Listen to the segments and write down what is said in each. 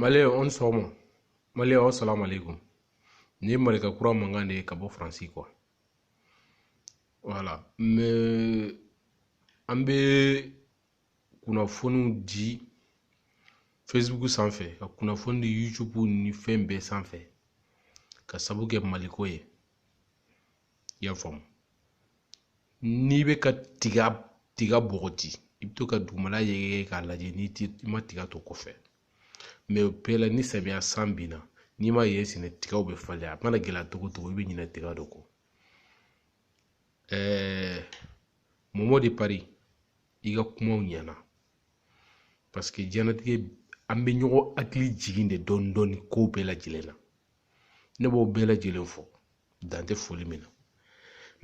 maliyɛn aw ni sɔgɔma maliyɛn wasalamu alaikum nin ye malika kura mankan de ye ka bɔ faransi kuwa wala mɛ an bɛ kunnafoniw di facebook sanfɛ ka kunnafoni di youtube ni fɛn bɛɛ sanfɛ ka sabu kɛ maliko ye i y'a faamu n'i bɛ ka tiga bɔgɔti i bɛ to ka dugumala yɛgɛyɛgɛ k'a lajɛ n'i ti i ma tiga to kɔfɛ mɛ o bɛɛ la ni samiya san binna n'i ma yen sɛnɛ tigaw bɛ falen a mana gɛlɛya cogo cogo i bɛ ɲinɛ tiga dɔ kɔ ɛɛ mɔmɔ de pari i ka kumaw ɲɛna paseke diɲɛnatigɛ an bɛ ɲɔgɔn hakili jigin de dɔɔnin dɔɔnin ko bɛɛ lajɛlen na ne b'aw bɛɛ lajɛlen fo dan tɛ foli min na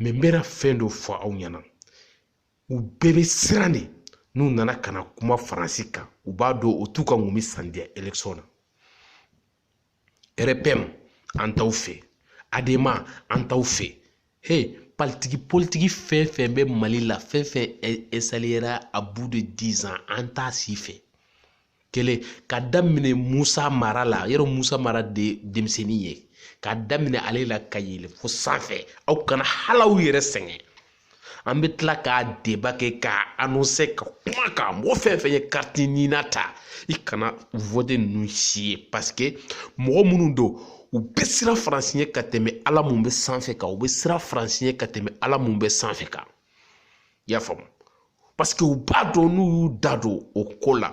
mɛ n bɛna fɛn dɔ fɔ aw ɲɛna u bɛɛ bɛ siran de n'u nana ka na kuma faransi kan u b'a dɔn o t'u ka ŋɔmi san diya elekisɔn na rpm an t'aw fɛ adema an t'aw fɛ he politiki fɛn fɛn bɛ mali la fɛn fɛn ɛsaliyera a bu de dizan an t'a si fɛ kelen ka daminɛ musa mara la yɛrɛ musa mara de denmisɛnnin ye ka daminɛ ale la ka yɛlɛ fo sanfɛ aw kana hal'aw yɛrɛ sɛgɛn an bɛ tila k'a deba kɛ k'a anonse ka kuma k'a mɔgɔ fɛn fɛn ye kariti nina ta i kana wote ninnu si ye paseke mɔgɔ minnu don u bɛ siran faransi ɲɛ ka tɛmɛ ala mun bɛ sanfɛ kan u bɛ siran faransi ɲɛ ka tɛmɛ ala mun bɛ sanfɛ kan i y'a faamu paseke u b'a dɔn n'u y'u da don o ko la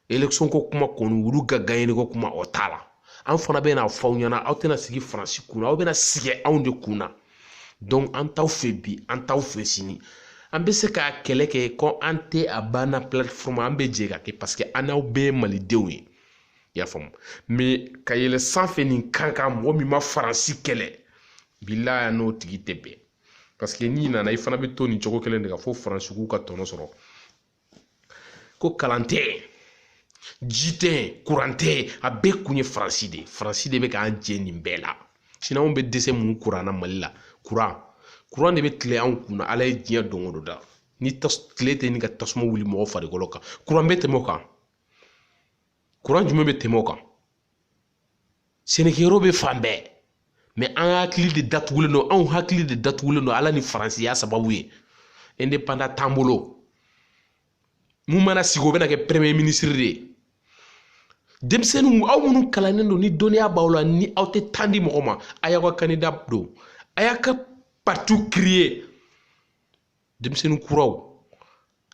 election ko kuma kɔni olu ka gaɲe ko kuma o t'a la an fana bɛn'a fɔ aw ɲɛna aw tɛna sigi faransi kunna aw bɛna sigi anw de kunna donc an t'aw fɛ bi an t'aw fɛ sini an bɛ se ka kɛlɛ kɛ ko an tɛ a banna platform an bɛ jɛ k'a kɛ paseke an n'aw bɛɛ ye malidenw ye i y'a faamu mɛ ka yɛlɛ sanfɛ nin kan kan mɔgɔ min ma faransi kɛlɛ bilahi an n'o tigi tɛ bɛn paseke n'i nana i fana bɛ to nin cogo kelen de kan fo faransi k'u ka tɔnɔ sɔrɔ ko kalan tɛ ji tɛ kuran tɛ a bɛɛ kun ye faransi de ye faransi de bɛ k'an jɛ nin bɛɛ la sinɔn anw bɛ dɛsɛ mun kuran na mali la kuran kuran de bɛ tilen anw kunna ala ye diɲɛ don o don da ni tile tɛ ni ka tasuma wuli mɔgɔ farikolo kan kuran bɛ tɛmɛ o kan kuran jumɛn bɛ tɛmɛ o kan sɛnɛkɛyɔrɔ bɛ fan bɛɛ mɛ an hakili de datugulen don anw hakili de datugulen don ala ni faransi y'a sababu ye indepanda t'an bolo mun mana sigi o bɛna kɛ premier minisiri de ye denmisɛnninw aw minnu kalannen don ni dɔnniya b'aw la ni aw tɛ tan di mɔgɔ ma a y'aw ka kandida don a y'a ka parti kiriye denmisɛnnin kuraw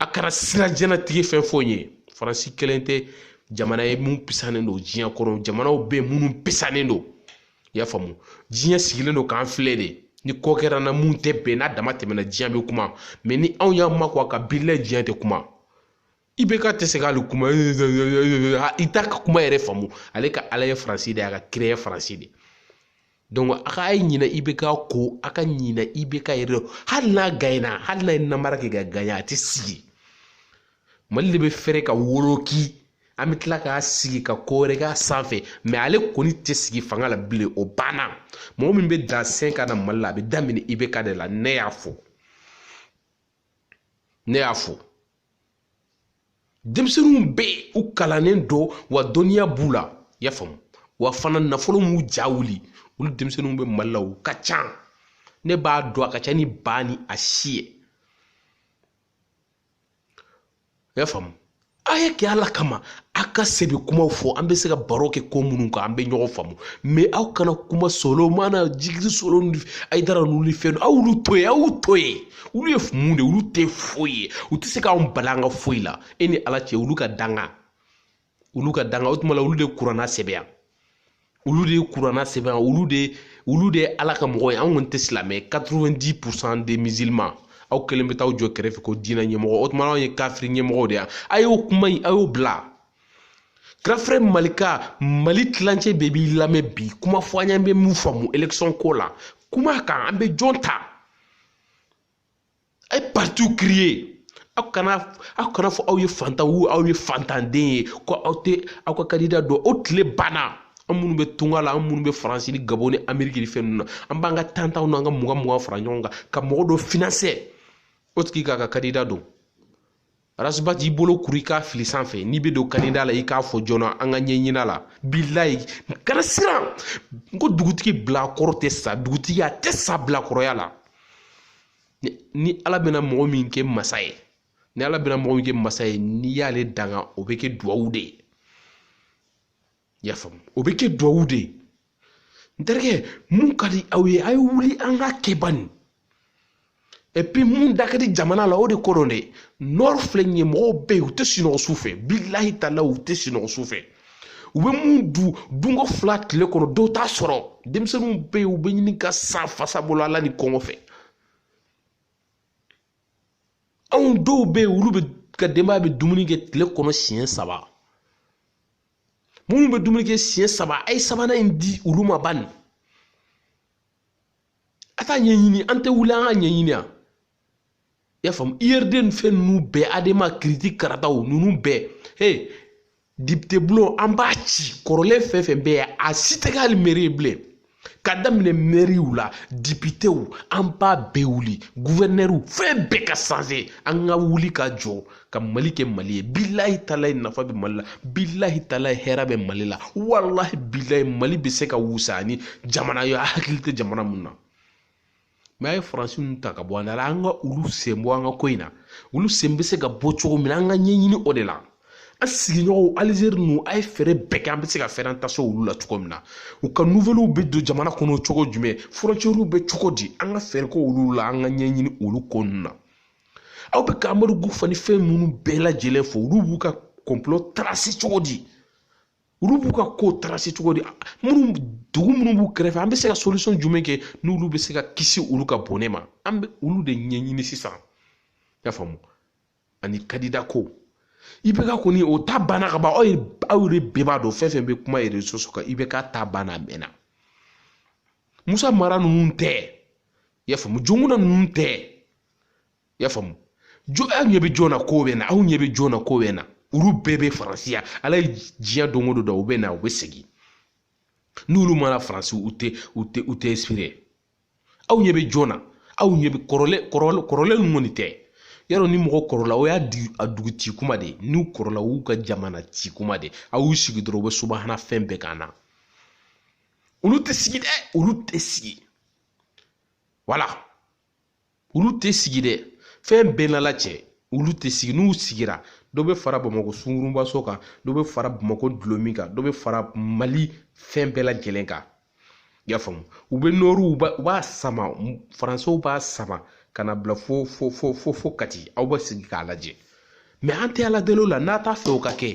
a kana siran diɲɛnatigɛ fɛn fɔ n ye faransi kelen tɛ jamana ye mun pisanen don diɲɛ kɔnɔ jamanaw bɛ minnu pisanen don i y'a faamu diɲɛ sigilen don k'an filɛ de ni ko kɛra an na mun tɛ bɛn n'a dama tɛmɛna diɲɛ bɛ kuma mɛ ni anw y'an makun a kan bilayi diɲɛ tɛ kuma IBK tɛ se k'ale kuma i t'a ka kuma yɛrɛ faamu ale ka ala ye faransi de ye a ka kira ye faransi de donc a ka ye ɲinɛ IBK kɔ a ka ɲinɛ IBK yɛrɛ hali n'a gaɲɛna hali n'a ye namara kɛ ka gaɲɛ a tɛ sigi mali de bɛ fɛrɛ ka woloki an bɛ tila k'a sigi ka ko wɛrɛ k'a sanfɛ mɛ ale kɔni tɛ sigi fanga la bilen o banna mɔgɔ min bɛ dan sen ka na mali la a bɛ daminɛ IBK de la ne y'a fɔ ne y'a fɔ denmisɛnninw bɛ u kalannen don wa dɔnniya b'u la i y'a faamu wa fana nafolo m'u ja wuli olu denmisɛnninw bɛ mali la u ka ca ne b'a dɔn a ka ca ni ba ni a si ye i y'a faamu a y'a kɛ ala kama a ka sɛbɛ kumaw fɔ an bɛ se ka baro kɛ ko minnu kan an bɛ ɲɔgɔn faamu mɛ aw kana kuma solomana jigiri solo ni ayidara ninnu ni fɛn aw y'olu to yen aw y'u to yen olu ye mun de olu tɛ foyi ye u tɛ se k'anw bali an ka foyi la e ni ala cɛ olu ka danga olu ka danga o tuma la olu de kuranɛ sɛbɛya olu de ye kuranɛ sɛbɛn olu de olu de ye ala ka mɔgɔ ye an kɔni tɛ silamɛ 90 pourcent des musulmans aw kelen bɛ taa aw jɔ kɛrɛfɛ ko diinɛ ɲɛmɔgɔ o tuma anw ye kafiri ɲɛmɔgɔw de ye a y'o kuma in a y'o bila grand frère malika mali tilancɛ bɛɛ b'i lamɛn bi kuma fɔ an ɲɛ bɛ mun faamu élection ko la kuma kan an bɛ jɔn ta a ye partiw kiriye aw kana aw kan'a fɔ aw ye fantan wo aw ye fantanden ye ko aw tɛ aw ka kandida don o tile banna an minnu bɛ tunga la an minnu bɛ faransi ni gabɔn ni ameriki ni fɛn ninnu na an b'an ka tan tanw n'an ka mugan mugan fara ɲɔgɔn kan ka mɔgɔ dɔ finansɛ o tigi k'a ka kandida don ras bath i bolo kuru i k'a fili sanfɛ n'i bɛ don kandida la i k'a fɔ joona an ka ɲɛɲina la bilayi kana siran n ko dugutigi bilakoro tɛ sa dugutigi a tɛ sa bilakoroya la ni ala bɛna mɔgɔ min kɛ masa ye ni ala bɛna mɔgɔ min kɛ masa ye n'i y'ale danga o bɛ kɛ duwawu de ye i y'a faamu o bɛ kɛ duwawu de ye n terikɛ mun ka di aw ye a ye wuli an ka kɛ bani epi mun da ka di jamana la o de ko don dɛ nɔri filɛ nin ye mɔgɔw bɛ yen u tɛ sunɔgɔ su fɛ bilahi tala u tɛ sunɔgɔ su fɛ u bɛ mun du dunko fila tile kɔnɔ dɔw t'a sɔrɔ denmisɛnninw bɛ yen u bɛ ɲini ka sa fasa bolo ala ni kɔngɔ fɛ anw dɔw bɛ yen olu bɛɛ ka denbaya bɛ dumuni kɛ tile kɔnɔ siɲɛ saba minnu bɛ dumuni kɛ siɲɛ saba a ye sabanan in di olu ma bani a t'a ɲɛɲini an tɛ wuli an k'a ɲɛɲini yan i y'a faamu urd ni fɛn ninnu bɛɛ adema kiriti karataw ninnu bɛɛ he dipite bulon an b'a ci kɔrɔlen fɛn fɛn bɛ yen a si tɛ kɛ hali mɛri ye bilen ka daminɛ mɛriw la dipitew an b'a bɛɛ wuli guvɛnɛriw fɛn bɛɛ ka sanse an ka wuli ka jɔ ka mali kɛ mali ye bilahi talahi nafa bɛ mali la bilahi talahi hɛrɛ bɛ mali la walahi bilahi mali bɛ se ka wusa ni jamana ye a hakili tɛ jamana mun na mɛ a ye faransi ninnu ta ka bɔ an da la an ka olu sen bɔ an ka ko in na olu sen bɛ se ka bɔ cogo min na an ka ɲɛɲini o de la an sigiɲɔgɔnw alizeri ninnu a ye fɛɛrɛ bɛɛ kɛ an bɛ se ka fɛɛrɛ an ka se olu la cogo min na u ka nuvɛliw bɛ don jamana kɔnɔ cogo jumɛn fɔrɔntiyɛriw bɛ cogo di an ka fɛɛrɛ kɛ olu la an ka ɲɛɲini olu ko ninnu na aw bɛ ka amadu kufa ni fɛn ninnu bɛɛ lajɛlen fɔ olu b'u ka kɔnpilɔ tarasi cogo di olu b'u ka ko tarasi cogo di minnu dugu minnu b'u kɛrɛfɛ an bɛ se ka solisɔn jumɛn kɛ n'olu bɛ se ka kisi olu ka bɔnɛ ma an bɛ olu de ɲɛɲini sisan i y'a faamu ani kandida ko ibk kɔni o ta banna ka ban aw ye aw yɛrɛ bɛɛ b'a dɔn fɛn fɛn bɛ kuma rezo sosiyo kan ibk ta banna a mɛnna musa mara ninnu tɛ i y'a faamu jɔnkunda ninnu tɛ i y'a faamu jo aw ɲɛ bɛ jɔn na k'o bɛ na aw ɲɛ bɛ jɔn na k'o bɛ na olu bɛɛ bɛ faransi yan ala ye diɲɛ don o don da u bɛ na u bɛ segin n'olu ma na faransi u tɛ u tɛ u tɛ ɛnsipire aw ɲɛ bɛ jɔn na aw ɲɛ bɛ kɔrɔlen kɔrɔlen kɔrɔlen ninnu kɔni tɛ yarɔ ni mɔgɔ kɔrɔla o y'a di a dugu ci kuma de n'u kɔrɔla u ka jamana ci kuma de a y'u sigi dɔrɔn u bɛ subahana fɛn bɛɛ kan na olu tɛ sigi dɛ olu tɛ sigi wala olu tɛ sigi dɛ fɛn bɛɛ n'ala cɛ olu tɛ sigi n'u sigira dɔ bɛ fara bamakɔ sungurunbaso kan dɔ bɛ fara bamakɔ dulɔmin kan dɔ bɛ fara mali fɛn bɛɛ lajɛlen kan i y'a faamu u bɛ nɔriw u b'a sama faransiw b'a sama ka n'a bila fo fo fo fo fo kati aw bɛ sigi k'a lajɛ mɛ an tɛ ala deli o la n'a t'a fɛ o ka kɛ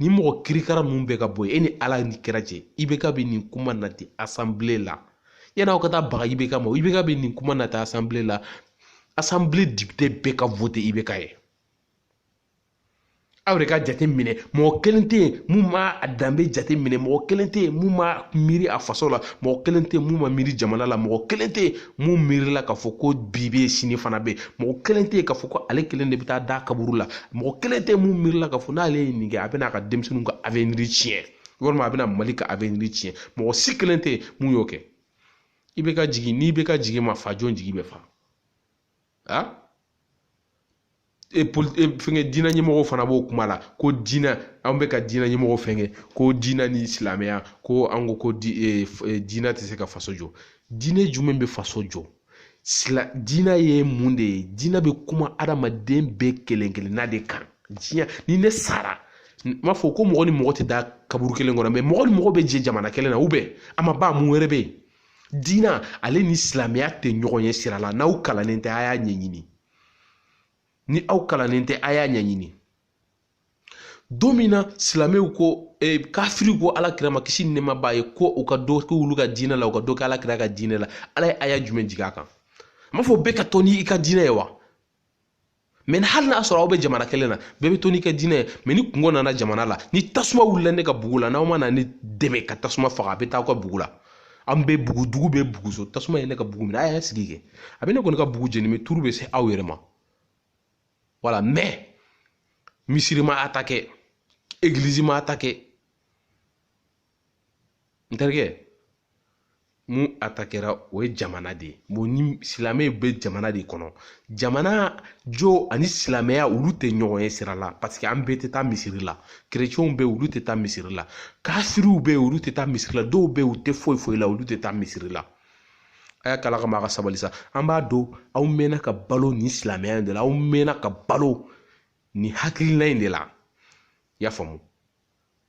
ni mɔgɔ kirikara ninnu bɛɛ ka bɔ yen e ni ala ni kira cɛ ibk bɛ nin kuma nati asanbile la yani aw ka taa baga IBK ma IBK bɛ nin kuma nati asanbile la asanbile depite bɛɛ ka vote IBK ye aw yɛrɛ ka jate minɛ mɔgɔ kelen tɛ yen mun ma a danbe jate minɛ mɔgɔ kelen tɛ yen mun ma miiri a faso la mɔgɔ kelen tɛ yen mun ma miiri jamana la mɔgɔ kelen tɛ yen mun miirila k'a fɔ ko bi bɛ yen sini fana bɛ yen mɔgɔ kelen tɛ yen k'a fɔ ko ale kelen de bɛ taa da kaburu la mɔgɔ kelen tɛ yen mun miirila k'a fɔ n'ale ye nin kɛ a bɛna a ka denmisɛnninw ka aveniri tiɲɛ walima a bɛna mali ka aveniri tiɲɛ mɔgɔ si kelen tɛ mun y'o kɛ IBK jigi n'IBK jigi ma fa jɔn jigi bɛ fa a e poli e fɛngɛ diinɛ ɲɛmɔgɔw fana b'o kuma la ko diinɛ an bɛ ka diinɛ ɲɛmɔgɔw fɛngɛ ko diinɛ ni silamɛya ko an ko ko di e, e, diinɛ tɛ se ka faso jɔ diinɛ jumɛn bɛ faso jɔ sila diinɛ ye mun de ye diinɛ bɛ kuma adamaden bɛɛ kelen kelenna de kan diɲɛ ni ne sara n m'a fɔ ko mɔgɔ ni mɔgɔ tɛ da kaburu kelen kɔnɔ mɛ mɔgɔ ni mɔgɔ bɛ jɛ jamana kelen na a ma ban mun wɛrɛ bɛ yen diinɛ ale ni silamɛya tɛ ɲɔgɔn ye sira la n'aw kalannen tɛ a y'a ɲɛɲini ni aw kalannen tɛ a y'a ɲɛɲini don min na silamɛw ko eh, kafiri ko ala kira ma kisi ni nɛɛma b'a ye ko u ka dɔ kɛ olu ka diinɛ la u ka dɔ kɛ ala kira ka diinɛ la ala ye aya jumɛn jigin a kan a m'a fɔ bɛɛ ka to ni i ka diinɛ ye wa mɛ ni hali n'a sɔrɔ aw bɛ jamana kelen na bɛɛ bɛ to n'i ka diinɛ ye mɛ ni kunko nana jamana la ni tasuma wulila ne ka bugu la n'aw ma na ne dɛmɛ ka tasuma faga a bɛ taa aw ka bugu la an bɛ bugu dugu bɛ buguso tasuma ye ne ka bugu minɛ a y'a sigi kɛ a bɛ ne kɔni ka bugu jeni mɛ turu bɛ se aw yɛrɛ ma wala mɛ misiri ma atake egilizi ma atake n terikɛ mun atakera o ye jamana de ye bon ni silamɛ bɛ jamana de kɔnɔ jamana jɔ ani silamɛya olu tɛ ɲɔgɔn ye sira la parce que an bɛɛ tɛ taa misiri la kerecɛnw bɛ yen olu tɛ taa misiri la kafiriw bɛ yen olu tɛ taa misiri la dɔw bɛ yen u tɛ foyi foyi la olu tɛ taa misiri la a y'a k'ala kama a ka sabali sa an b'a dɔn aw mɛnna ka balo nin silamɛya in de la aw mɛnna ka balo nin hakilina in de la i y'a faamu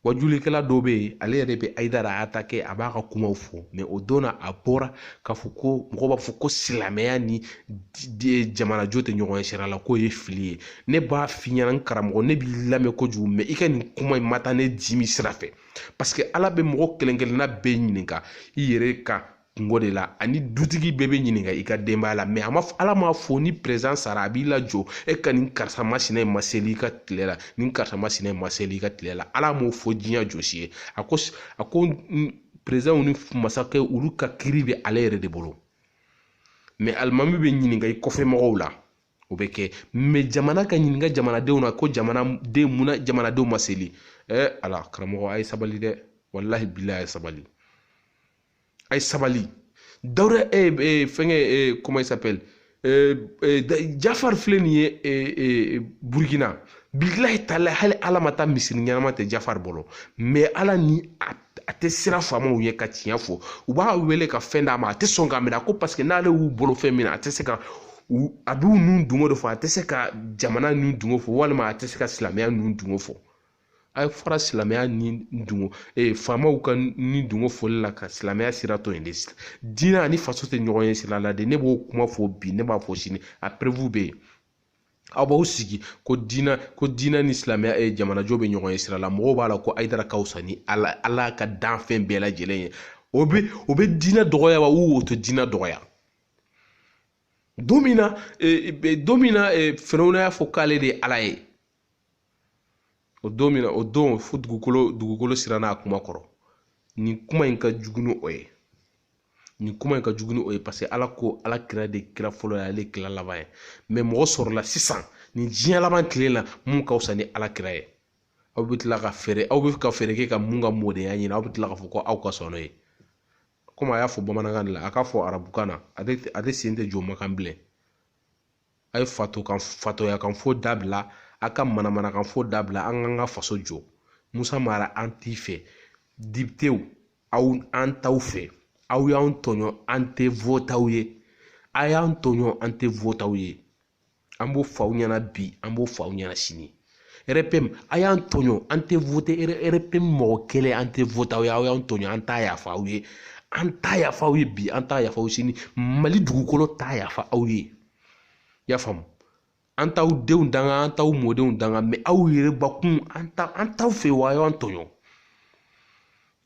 wajulikɛla dɔ bɛ yen ale yɛrɛ bɛ ayidara atake a b'a ka kumaw fɔ mɛ o don na a bɔra k'a fɔ ko mɔgɔw b'a fɔ ko silamɛya ni jamanajɔ tɛ ɲɔgɔn ye sira la k'o ye fili ye ne b'a f'i ɲɛna n karamɔgɔ ne b'i lamɛn kojugu mɛ i ka nin kuma in ma taa ne dimi sira fɛ parce que ala bɛ mɔgɔ kelenkelenna bɛɛ ɲininka i yɛrɛ ka kunko de la ani dutigi bɛɛ bɛ ɲininka i ka denbaya la mɛ a ma ala m'a fɔ ni perezan sara a b'i lajɔ e ka nin karisa masina in ma seli i ka tile la nin karisa masina in ma seli i ka tile la ala m'o fɔ diɲɛ jɔsi ye a ko a ko perezanw ni masakɛ olu ka kiiri bɛ ale yɛrɛ de bolo mɛ alimami bɛ ɲininka i kɔfɛ mɔgɔw la o bɛ kɛ mɛ jamana ka ɲininka jamanadenw na ko jamanaden munna jamanadenw ma seli ɛ ala karamɔgɔ a ye sabali dɛ walahi bilahi a ye sabali a ye sabali dawuda e e fɛnkɛ e comment s'appelle jafari filɛ nin ye burukina bilahi tala hali ala ma taa misiri ɲɛnama tɛ jafari bolo mɛ ala ni a a tɛ siran faamaw ye ka tiɲɛ fɔ u b'a wele ka fɛn d'a ma a tɛ sɔn k'a minɛ ko paseke n'ale y'u bolo fɛn minɛ a tɛ se ka a b'u ni dungo de fɔ a tɛ se ka jamana ni dungo fɔ walima a tɛ se ka silamɛya ni dungo fɔ a ye fara silamɛya ni dungo ee faamaw ka ni dungo fɔli la ka silamɛya sira to yen de diinɛ ani faso tɛ ɲɔgɔn ye sira la de ne b'o kuma fɔ bi ne b'a fɔ sini a perewu bɛ yen aw b'aw sigi ko diinɛ ko diinɛ ni silamɛya ye jamanajɔ bɛ ɲɔgɔn ye sira la mɔgɔw b'a la ko ayidara ka wusa ni ala ala ka danfɛn bɛɛ lajɛlen ye o bɛ o bɛ diinɛ dɔgɔya wa o tɛ diinɛ dɔgɔya don min na don min na firawuna y'a fɔ k'ale de ye ala ye o don min na o don fo dugukolo dugukolo siranna a kuma kɔrɔ nin kuma in ka jugu ni o ye nin kuma in ka jugu ni o ye paseke ala ko ala kira de kira fɔlɔ ye ale kira laban ye mɛ mɔgɔ sɔrɔla sisan nin diɲɛ laban tile la min ka wusa ni ala kira ye aw bɛ tila ka fɛɛrɛ aw bɛ ka fɛɛrɛ kɛ ka min ka mɔdenya ɲini aw bɛ tila k'a fɔ ko aw ka sɔn n'o ye komi a y'a fɔ bamanankan de la a k'a fɔ arabukan na a tɛ sen tɛ jɔ makan bilen a ye fatokan fatoyakan fɔ dabila a ka manamanakan fɔ dabila an k'an ka faso jɔ musa mara an t'i fɛ depitew aw an t'aw fɛ aw y'an tɔɲɔ an tɛ vote aw ye a y'an tɔɲɔ an tɛ vote aw ye an b'o fɔ aw ɲɛna bi an b'o fɔ aw ɲɛna sini rpm a y'an tɔɲɔ an tɛ vote rpm mɔgɔ kelen an tɛ vote aw ye aw y'an tɔɲɔ an t'a yafa aw ye an t'a yafa aw ye bi an t'a yafa aw ye sini mali dugukolo t'a yafa aw ye i y'a faamu an t'aw denw danga an t'aw mɔdenw danga mɛ aw yɛrɛ bakun an t'aw fɛ wa aw y'an tɔɲɔ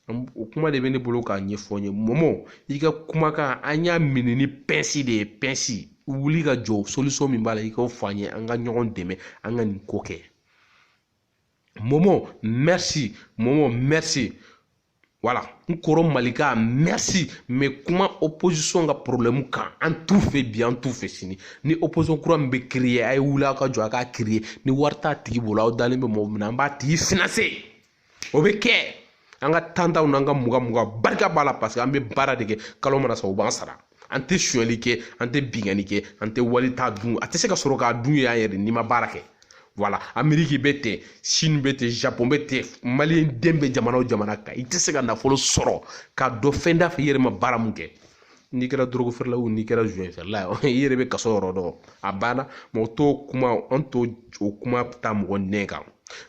o kuma de bɛ ne bolo k'a ɲɛfɔ n ye mɔmɔ i ka kumakan an y'a minɛ ni pɛnsi de ye pɛnsi wuli ka jɔ solisɔn min b'a la i k'o fɔ an ye an ka ɲɔgɔn dɛmɛ an ka nin ko kɛ mɔmɔ mɛsi mɔmɔ mɛsi wala n kɔrɔ malika mɛsi n bɛ kuma opozisɔn ka porobilɛmu kan an t'u fɛ bi an t'u fɛ sini ni opozisɔn kura min bɛ kiriye a ye wuli aw ka jɔ a k'a kiriye ni wari t'a tigi bolo aw dalen bɛ mɔgɔ min na an b'a tigi finanse o bɛ kɛ an ka tan tanw n'an ka mugan mugan barika b'a la paseke an bɛ baara de kɛ kalo mana sa u b'an sara an tɛ sonyali kɛ an tɛ binkanni kɛ an tɛ wali ta dun a tɛ se k'a sɔrɔ k'a dun yan yɛrɛ n'i ma baara kɛ wala ameriki bɛ ten sini bɛ ten japɔn bɛ ten maliyɛn den bɛ jamana o jamana kan i tɛ se ka nafolo sɔrɔ k'a don fɛn dafɛ i yɛrɛ ma baara min kɛ n'i kɛra dɔrɔgu feerela wo n'i kɛra joint feerela ye i yɛrɛ bɛ kaso yɔrɔ dɔn a banna mɔgɔ t'o kuma an t'o o kuma ta mɔgɔ nɛn kan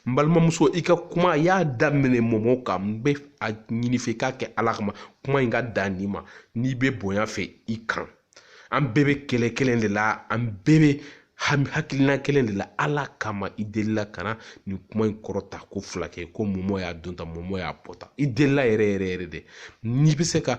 n balimamuso i ka kuma i y'a daminɛ mɔmɔ kan n bɛ a ɲini i fɛ i k'a kɛ ala kama kuma in ka dan nin ma n'i bɛ bonya fɛ i kan an bɛɛ bɛ kɛlɛ kelen de la an bɛɛ bɛ hami hakilina kelen de la ala kama i delila kana nin kuma in kɔrɔta ko fila kɛ ko mɔmɔ y'a don tan mɔmɔ y'a bɔ tan i delila yɛrɛ yɛrɛ yɛrɛ de n'i bɛ se ka